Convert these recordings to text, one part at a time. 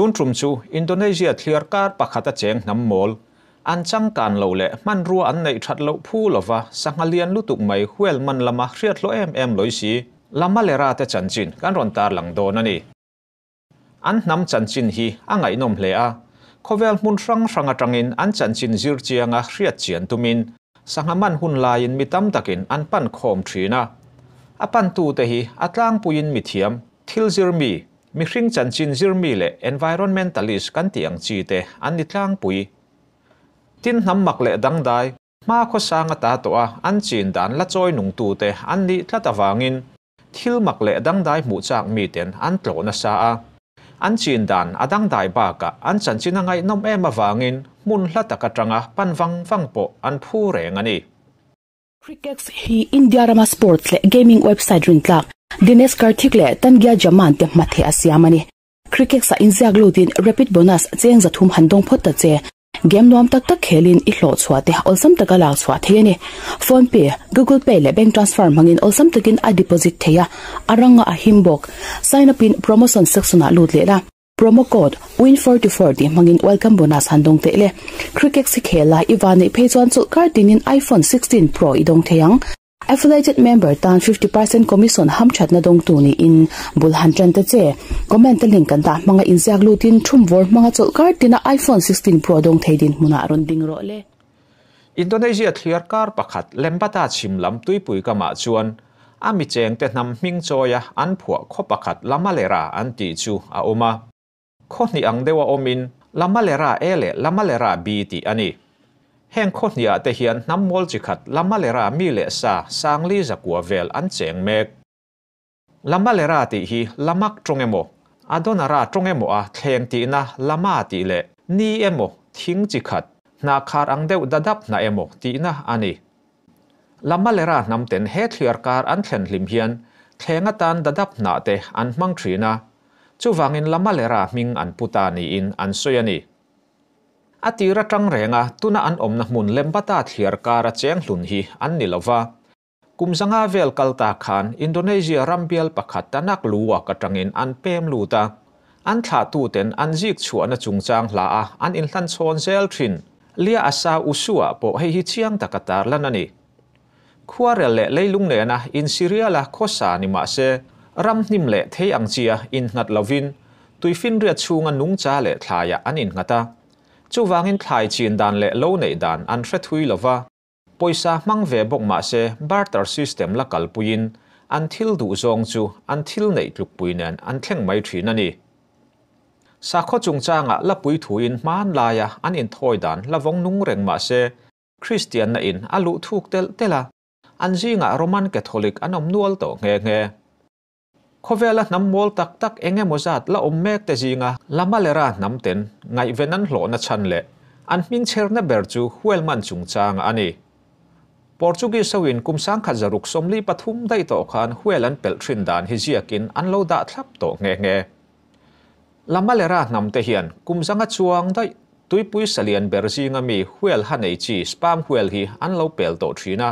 Tun ṭum chu Indonesia thliar kar pakhata cheng hnam mawl, an changkan lo leh hmanrua an neih ṭhat loh phu lova sangha lian lutuk mai huel man lama hriatthlawh em em lawi si. La Malera te chanchin kan rawn tarlang dawn a ni. An hnam chanchin hi a ngaihnawm hle a, khawvel hmun hrang hrang aṭangin an chanchin zir chianga hriat chian tumin sangha man hun laiin mi tam takin an pan khawm ṭhin a. A pantute hi a tlangpuiin mithiam, thilzir mi, Mihring chanchin zirmi leh environmentalist kan tih ang chi te an ni tlangpui. Tin hnam mak leh dangdai, hma khawsang a ta tawh a, an chin dan la chawi nung tu te an nih tlat avangin thil mak leh dangdai hmuh chak mi ten an tlawh nasa a. An chin dan a dangdai bakah an chanchin a ngaihnawm em avangin hmun hla tak atanga pan vang vang pawh an phu reng a ni. Crickex hi India rama sports leh gaming website rintlak Dinesh Karthik leh Tangiah Jaman te hmatheh a siam a ni. Crickex a inziak lutin Rapid Bonus cheng zathum han dawng phawt ta che. Game nuam tak tak khelin i hlawh chhuah te awlsam taka lak chhuah thei a ni. Phone pay, Google pay leh bank transfer hmangin awlsam takin a deposit thei a, a ranga a him bawk. Sign up in promotion section ah lut leh la. Promo code win424 tih hmangin welcome bonus han dawng theih le. Cricket si khel lai i va neih phei chuan chawlh kar tingin iPhone 16 Pro i dawng thei ang. Affiliated member tan fifty percent commission ham thatna dawng tu niin bul han tan ta che. Comment aling kan dah hmanga inziak lutin thum vawr hmanga chawlh kar tina iPhone 16 Pro dawng thei dinhmunah rawn ding rawh le. Indonesia thliar kar pakhat Lembata chhim lam tuipui kamah chuan a mi chengte hnam hming chawi a an phuah khaw pakhat Lamalera an tih chu a awm a, khaw hnih ang deuh a awmin Lamalera A leh Lamalera B tih a ni. Heng khaw hniah te hian hnam mawl chi khat Lamalera mi leh sa, Sangli zakua vel an cheng mek. Lama le ra tih hi lamak tawng emaw, adona ra tawng emaw a thleng tihna lama tih leh ni emaw thing chi khat, hna khar ang deuh dadap hna emaw tihna a ni. Lama le ra hnam ten he thliar kar an thlen hlim hian thleng atan dadap hna te an hmang thin a, chuvangin lama le ra hming an pu ta niin an sawi a ni. A tir atang reng a, tuna an awmna hmun lem bata thliar kara cheng hlun hi an ni lo va, Kum zanga vel kal ta khan Indonesia ram bial pakhat tanak luak atangin an pem lut a, an thlahtuten an zik chhuahna chungchang hla a an inhlan chhawn zel thin. Lia a sa u suah pawh hei hi chiang tak a tar lan a ni. Khuarel leh leilung nena insiriala khawsa ni mah se, ram hnim leh thei ang chia innghat lovin tuifinriat chhunga nungcha leh thlaiah an innghat a, chuvangin thlai chin dan leh lo neih dan an hre thui lo va. Pawisa hmang ve bawk mahse barter system la kalpuiin an thil duh zawng chu an thil neih tlukpui nen an thleng mai thin a ni. Sakhaw chungchangah la pui thuin hmanlaia an inthawi dan la vawng nung reng mahse Kristianna in a luh thuk telh telh a, an zingah Roman Catholic an awm nual tawh nghe nghe. Khawvela hnam mawl tak tak eng emaw zat la awm mek te zinga lama leh ra hnamten ngaihven an hlawhna chhan leh an hmingcherna ber chu huail man chungchanga a ni. Portuguese hoin kum sangkhat zaruk sawmli pathum daih tawh khan huail an pelh thin dan hi ziakin an lo dah thlap tawh nghe nghe. Lama leh ra hnamte hian kum zanga chuang daih tuipui salian ber zinga mi huail ha nei chi spam huail hi an lo pel tawh thin a.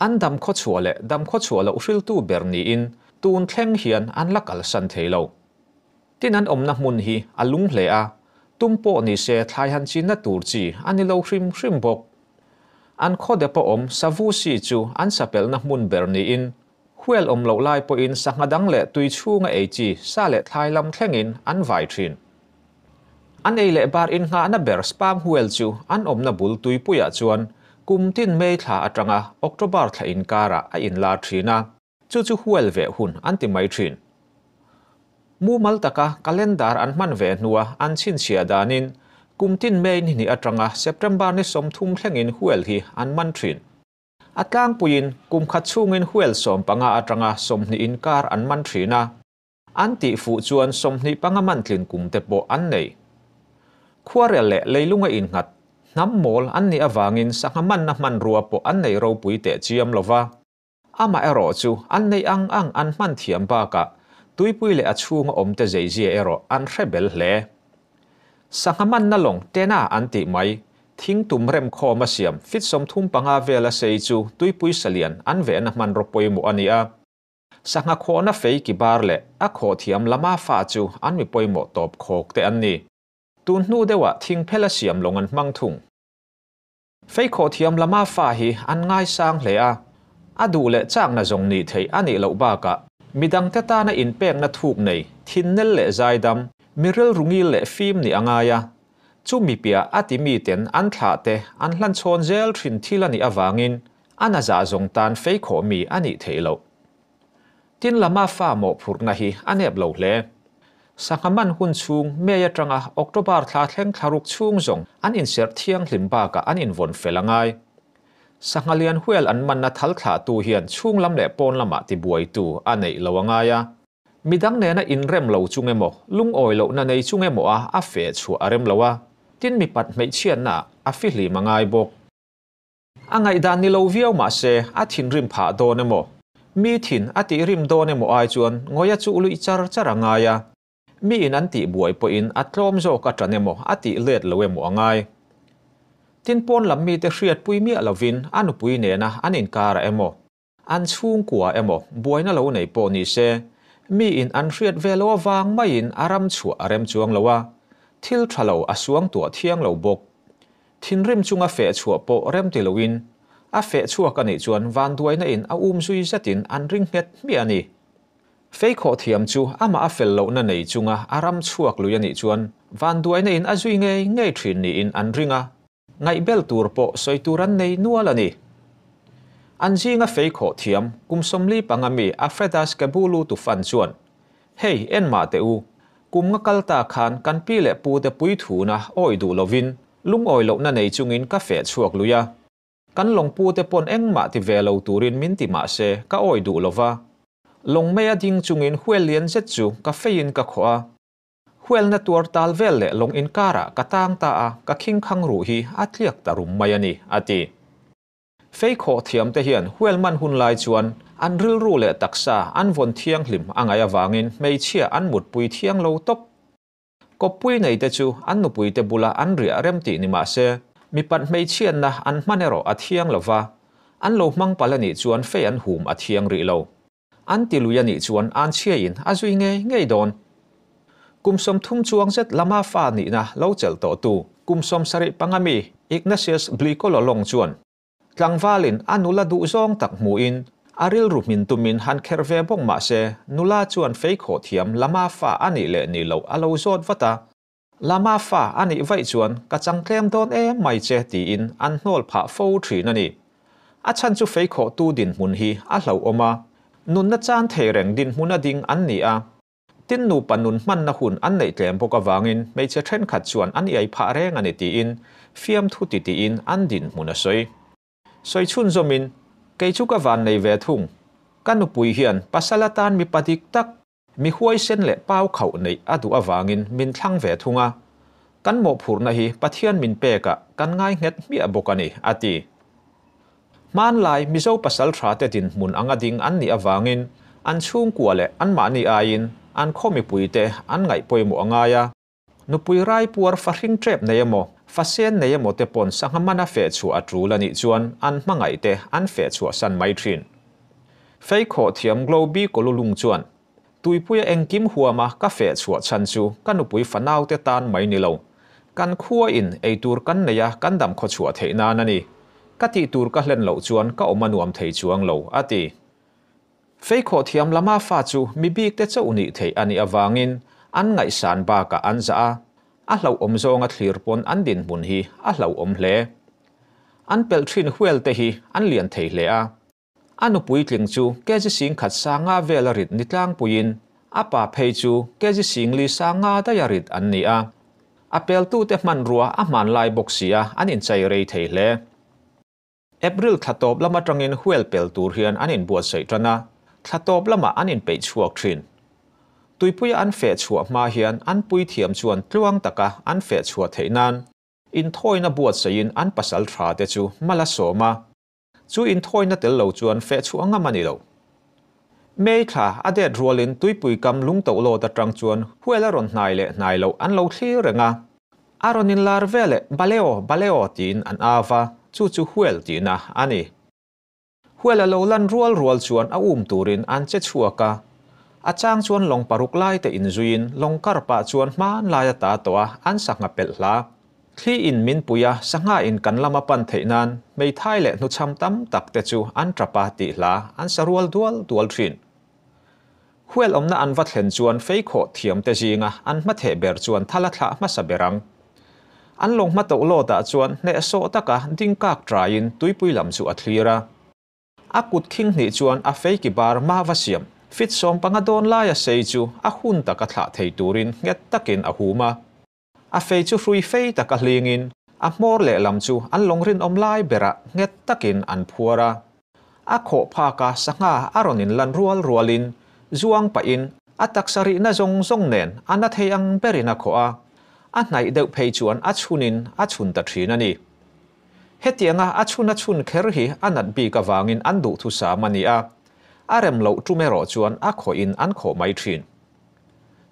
An dam khawchhuah leh dam khawchhuah loh hriltu ber niin tun thleng hian an la kalsan thei lo. Tin an awmna hmun hi a lung hle a, tum pawh ni se thlai han chinna tur chi a ni lo hrim hrim bawk. An khawde pawh awm savusi chu an sapelna hmun ber niin huel awm loh lai pawhin sangha dang leh tui chhunga ei chi sa leh thlai lam thlengin an vai thin. A nei leh bar innghahna ber sperm whale chu an awmna bul tuipuiah chuan kum tin May thla atanga October thla inkarah a inlar thin a, chu chu whale veh hun an ti mai thin. Mumal taka calendar an hman ve hnua an chhinchhiah danin kum tin May ni hnih atanga September ni sawm thum thlengin whale hi an man thin. A tlangpuiin kum khat chhungin whale sawm panga atanga sawmhnih inkar an man thin a. An tih fuh chuan sawmhnih panga mantlin kung te pawh an nei. Khuarel leh leilunga innghat, hnam mawl an nih avangin sangha manna hmanrua pawh an neih ropui teh chiam lo va. Amah erawh chu an neih ang ang an hman thiam bakah tuipui leh a chhunga awmte zeizia erawh an hre bel hle. Sangha manna lawng tena an tih mai, thing tum rem khawma siam fitsawm thum panga vela sei chu tuipui salian an vehna hmanraw pawimawh a ni a. Sangha khawhna fei ki bar leh a khawh thiam lama fa chu an mi pawimawh tawp khawk te an ni. Tun hnu deuhah thing phel a siam lawng an hmang thung. Fei khawh thiam lama fa hi an ngaisang hle a, a duh leh chakna zawng ni theih a nih loh bakah, mi dangte tana inpekna thuk nei, thinnel leh zaidam, mi rilru ngil leh fim nih a ngai a. Chu mi piah a ti miten an thlah te an hlan chhawn zel thin thil a nih avangin A na zah zawng tan fei khawh mi a nih theih loh. Tin lama fa mawhphurhna hi a nep lo hle. Sangha man hun chhung May atanga October thla thleng thlaruk chhung zawng an inserh thianghlim bakah an invawn fel a ngai. Sangha lian huel an manna thal thlahtu hian chhung lam leh pawn lamah ti buaitu a neih lo a ngai a. Midang nena inrem lo chung emaw, lungawi lohna nei chung emaw a a feh chhuah a rem lo a, tin mi pat hmeichhiatna a fihlim a ngai bawk. A ngaihdan ni lo viau mah se, a thinrim phah dawn emaw? Mi thin a tihrim dawn emaw ai chuan Ngawia chu lui char char a ngai a. Miin an tih buai pawhin a tlawm zawk a tan emaw, a tih let lo emaw a ngai. Tin pawn lam mite hriatpui miah lovin a nupui nena an inkar ah emaw? An chhungkua emaw buaina lo nei pawh ni se, mi in an hriat ve lo avang maiin a ram chhuah a rem chuang lo a, thil tha lo a suang tuah thiang lo bawk. Thinrim chunga feh chhuah pawh rem ti loin a feh chhuak a nih chuan vanduaina in a um zui zetin an ring nghet hmiah a ni. Feikhawh thiam chu amah a fel lohna nei chunga a ram chhuak lui a nih chuan vanduaina in a zui ngei ngei thin niin an ring a. Ngaihbel tur pawh sawi tur an nei nual a ni. An zinga fei khawh thiam kum sawmli panga mi Afredas Kebulu tu fan chuan, Hei, en mah teh u, kum nga kal ta khan kan pi leh pu te puithuna awi duh lovin lungawi lohna nei chungin ka feh chhuak lui a. Kan lawngpu te pawn engmah ti ve lo turin min ti mah se ka awi duh lova. Lawngmei a ding chungin huail lian zet chu ka feiin ka khawh a. Hualna tuar tal vel leh lawng inkarah ka tang ta a, ka khingkhang ruh hi a tliak ta rum mai a ni, a ti. Fei khawh thiamte hian hual man hun lai chuan an rilru leh taksa an vawn thianghlim a ngaih avangin hmeichhia an mutpui thiang lo tawp. Kawppui neite chu an nupuite bula an riah rem tih ni mah se, mi panh hmeichhianna an hman erawh a thiang lo va, an lo hmang palh a nih chuan Fei an hum a thiang rih lo. An ti lui a nih chuan an chhia in a zui ngei ngei dawn. Kum sawmthum chuang zet lama fa nihna lo chelh tawh tu kum sawm sarih panga mi Ignatius Blicololong chuan tlangval in a nula duhzawng tak hmuh in a rilru hmin tum in han kher ve bawk mah se nula chuan fei khawh thiam lama fa a nih leh nih loh a lo zawt vat a. Lama fa a nih vaih chuan ka chang tlem dawn em mai che tiin an hnawl phah fo thin a ni. A chhan chu fei khawh tu dinhmun hi a hlauhawm a, nunna chan thei reng dinhmun a ding an ni a. Tin nupa nun hmanna hun an neih tlem bawk avangin hmeichhe thenkhat chuan an iai phah reng a ni tiin fiamthu ti tiin an dinhmun a sawi. Sawi chhun zawmin, Kei chu ka van nei ve thung. Ka nupui hian pasal atan mipa dik tak. Mi huaisen leh pau khauh neih a duh avangin min thlang ve thung a, kan mawhphurhna hi Pathian min pekah kan ngainghet hmiah bawk a ni, a ti. Hmanlai Mizo pasalthate dinhmun anga ding an nih avangin an chhungkua leh anmahni aiin an khaw mipuite an ngaihpawimawh a ngai a. Nupui rai puar fa hring ṭep nei emaw, fa sen nei emaw te pawn sangha mana feh chhuah a ṭul a nih chuan an hmangaih te an feh chhuah san mai ṭhin. Feikhaw thiam Globy Kolulung chuan, Tuipuia engkim huama ka feh chhuah chhan chu ka nupui fa naute tan mai ni lo. Kan khua in eitur kan nei a kan dam khaw chhuah theih nan a ni. Ka tih tur ka hlen loh chuan ka awm a nuam thei chuang lo, a ti. Pheikhawh thiam lama fa chu mi bikte chauh nih theih a nih avangin an ngaihsan bakah an zah a, a hlauhawm zawnga thlir pawn an dinhmun hi a hlauhawm hle. An pelh thin hualte hi an lian thei hle a. A nu Puitling chu kg sing khat sa nga vel a rit ni tlangpuiin a pa phei chu kg sing li sa nga daih a rit an ni a. A peltute hmanrua a hmanlai bawk sia an inchei rei thei hle. April thla tawp lam atangin huel pel tur hian an inbuatsaih tan a, thla tawp lamah an inpeih chhuak thin. Tuipuia an feh chhuah hma hian an puithiam chuan tluang taka an feh chhuah theih nan inthawina buatsaihin an pasal tha te chu mal a sawm a, chu inthawina tel lo chuan feh chhuah ngam a ni lo. May thla a det rualin tuipui kam lungto lawt atang chuan huail a rawn hnai leh hnai loh an lo thlir reng a. A rawn inlar ve leh Baleo, Baleo tiin an av a, chu chu huail tihna a ni. Huail a lo lan rual rual chuan a um turin an che chhuak a. A chang chuan lawng paruk laite inzuiin lawng kar pah chuan hmanlai a ta tawh a, an sangha pelh hlah. Thli in min pui a, sangha in kan lama pan theih nan hmeithai leh hnuchham tam tak te chu an tap a tih hla an sa rual dual dual thin. Huel awmna an va thlen chuan fei khawh thiam te zinga an hma theh ber chuan thal a thlah hmasa ber ang. An lawng hma toh lawt ah chuan hneh sawh tak a ding kak trai in tuipui lam chu a thlir a. A kut khing hnih chuan a fei ki bar mah va siam fit sawm panga dawn lai a sei chu a hun tak a thlah thei tur in nghet tak in a hum a. A fei chu hrui fei tak a hlingin a hmawr leh lam chu an lawng rinawm lai berah nghet takin an phuar a. A khawh phaka sangha a rawn inlan rual rualin zuang pahin a taksa rihna zawng zawng nen a na thei ang berin a khawh a, a hnaih deuh phei chuan a chhunin a chhun ta thin a ni. Hetianga a chhun a chhun kher hi a nat bik avangin an duh thusam a ni a, a rem loh tum erawh chuan a khawhin an khawh mai thin.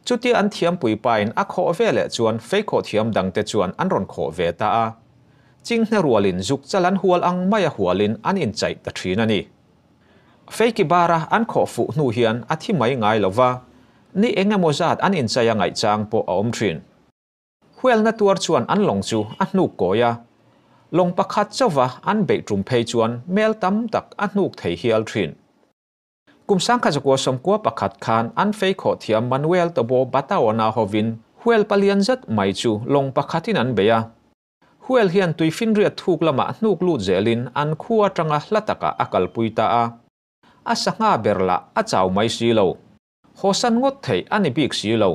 Chutia an thiampui pain a khawh ve leh chuan feikhaw thiam dangte chuan an rawn khawh ve ta a. Chinghne rualin zuk chal an hual ang maia hualin an inchaih ta thin a ni. Feiki bara an khawh fuh hnu hian a thi mai ngai lova, ni eng emaw zat an inchai a ngaihchang pawh a awm thin. Hualna tuar chuan an lawng chu a hnuk kawi a, lawng pakhat chauva an beih tum phei chuan mel tam tak a hnuk thei hial thin. Kum sangkhat zakua sawmkua pakhat khan an fei khawh thiam Manuel Tobo Bataona hovin Huel palian zet mai chu lawng pakhatin an bei a. Huel hian tui finriat thuk lamah hnuk lut zelin an khu atanga hla takah a kalpui ta a. A sangha ber lah a chau mai si lo. Hawsan ngawt theih a ni bik si lo.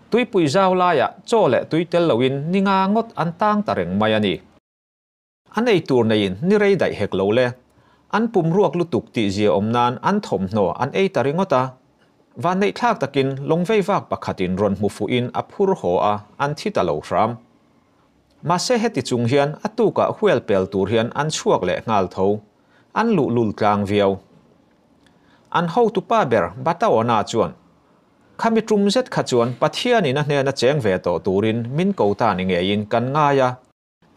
Tuipui zau laiah chaw leh tui tel loin ninga ngawt an tang ta reng mai a ni. A nei tur neiin ni rei daih hek lo le, an pum ruak lutuk tih zia awm nan an thawmhnaw an ei ta ringawt a. Vanneihthlak takin lawngvei vak pakhatin rawn hmu fuhin a phur haw a, an thi ta lo hram. Mahse heti chung hian a tukah hual pel tur hian an chhuak leh nghal tho, an luh lul tlang viau. An hotu pa ber Bataona chuan, Kha mi tum zet kha chuan Pathianin a hnena cheng ve tawh turin min ko ta ni ngeiin kan ngai a,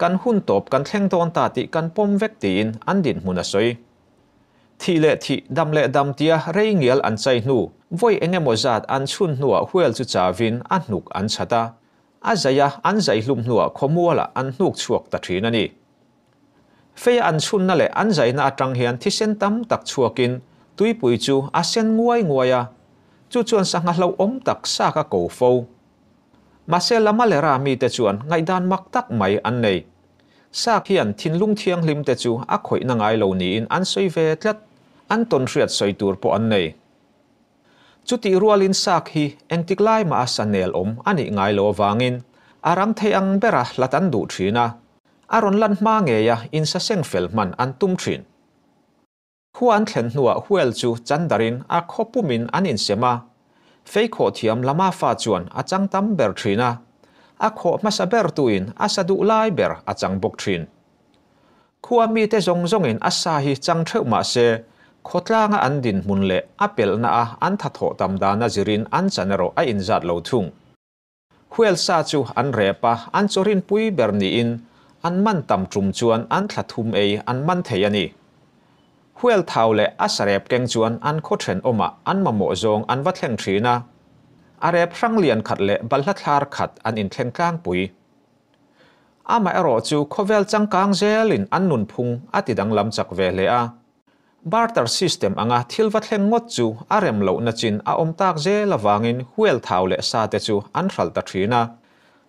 Kan hun tawp kan thleng dawn ta tih kan pawm vek tiin an dinhmun a sawi. Thih leh thih, dam leh dam tia rei ngial an chai hnu, vawi eng emaw zat an chhun hnuah hual chu chavin a hnuk an chhat a. A zaih a, an zaih hlum hnuah khawmualah an hnuk chhuak ta thin a ni. Feia an chhunna leh an zaihna atang hian thisen tam tak chhuakin tuipui chu a sen nguai nguai a, chu chuan sangha hlauhawm tak saka ko fo. Mahse lama leh ra mite chuan ngaihdan mak tak mai an nei. Sâk hian thinlung thianghlimte chu a khawihna ngai lo niin an sawi ve tlat, an tawn hriat sawi tur pawh an nei. Chutih rualin sâk hi engtik lai mah a sa nelawm a nih ngai lo avangin a rang thei ang bera hlat an duh thin a, a rawn lan hma ngeia insaseng fel hman an tum thin. Khua an thlen hnuah Huel chu chan darin a khaw pumin an insem a, Feikhaw thiam lama fa chuan a chang tam ber thin a, a khawh hmasa ber tuin a sa duh lai ber a chang bawk thin. Khua mite zawng zawngin a sa hi chang theuh mahse, khawtlanga an dinhmun leh a pelhna a an tha thawh tam dana zirin an chan erawh a inzat lo thung. Huelsa chu an rep a, an chaw rinpui ber niin an man tam tum chuan an thla thum ei an man thei a ni. Huel thau leh a sa rep keng chuan an khaw then awmah an mamawh zawng an va thleng thin a, a rep hrang lian khat leh balhla thlar khat an inthleng tlangpui. Amaherawhchu khawvel changkang zelin an nunphung a tidang lam chak ve hle a. Barter system anga thil va thlen ngawt chu a rem loh na chin a awm tak zel avangin huel thau leh sa te chu an hral ta thin a.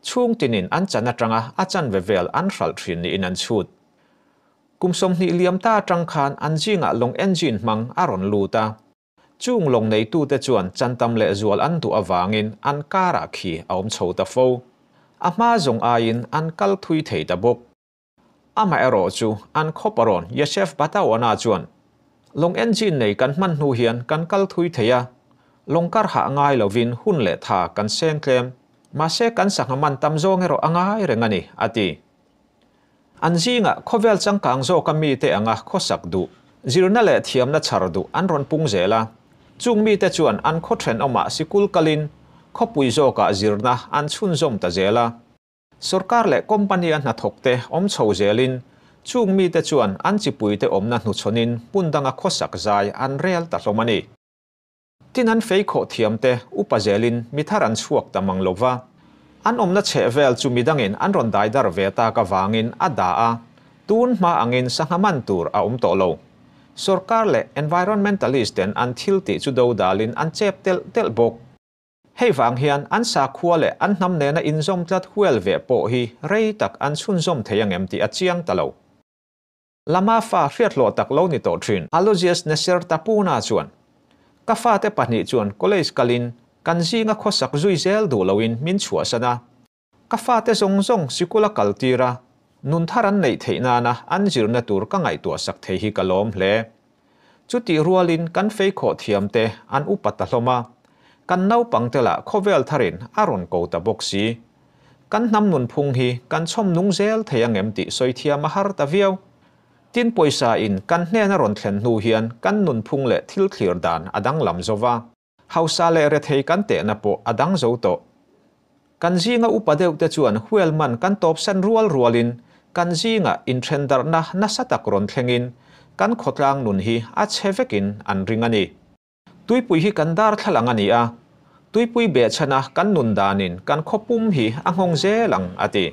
Chhung tin in an chan atanga a chan ve vel an hral thin niin an chhut. Kum sawmhnih liam ta atang khan an zingah lawng engine hmang a rawn lut a. Chung lawng nei tu te chuan chan tam leh zual an duh avangin an karah khi a awm chho ta fo. A hma zawng aiin an kal thui thei ta bawk. Amah erawh chu an khawp a rawn Yesef Batauana chuan, Lawng engine nei kan hman hnu hian kan kal thui thei a, lawng kar hah ngai lovin hun leh tha kan seng tlem, mahse kan sangha man tam zawng erawh a ngai reng a ni, a ti. An zingah khawvel changkang zawka mite anga khawsak duh, zirna leh thiamna chhar duh an rawn pung zel a, chung mite chuan an khaw ṭhenawmah sikul kalin khawpui zawkah zirna an chhunzawm ta zel a. Sorkar leh company a hnathawk te awm chho zel in chung mi te chuan an chipui te awmna hnuchhawn in hmun dang a khawsak zai an rel ta hlawm a ni. Tin an fei khawh thiam te upa zel in mi thar an chhuak ta mang lo va, an awmna chheh vel chu mi dang in an rawn dai dar ve tak a vang in a da a, tun hma ang in sangha man tur a awm tawh lo. Sorkar leh environmentalist ten an thil tih chu do dal in an chep telh telh bawk. Hei vang hian an sakhua leh an hnam nena inzawm tlat hual ve pawh hi rei tak an chhunzawm thei ang em tih a chiang ta lo. Lama fa hriathlawh tak lo ni tawh thin Aloysius Neser Tapuna chuan, Ka fate pahnih chuan college kalin kan zinga khawsak zui zel duh loin min chhuahsan a, Ka fate zawng zawng sikul a kal tir a, nun thar an neih theih nana an zirna tur ka ngaihtuah sak thei hi ka lawm hle. Chutih rualin kan fei khawh thiam te an upa ta hlawm a, kan naupang te lah khawvel tharin a rawn ko ta bawk si. Kan hnam nunphung hi kan chhawm nung zel thei ang em tih sawi thiam a har ta viau. Tin, pawisa in kan hnena rawn thlen hnu hian kan nunphung leh thil thlir dan a danglam zo va. Hausa leh rethei kan tehna pawh a dang zo tawh. Kan zinga upa deuhte chuan hual man kan tawpsan rual rualin kan zinga inthendarhna nasa tak rawn thlengin kan khawtlang nun hi a chhe vekin an ring a ni. Tuipui hi kan darthlalang a ni a, tuipui behchhana kan nun danin kan khaw pum hi a nghawng zel ang, a ti.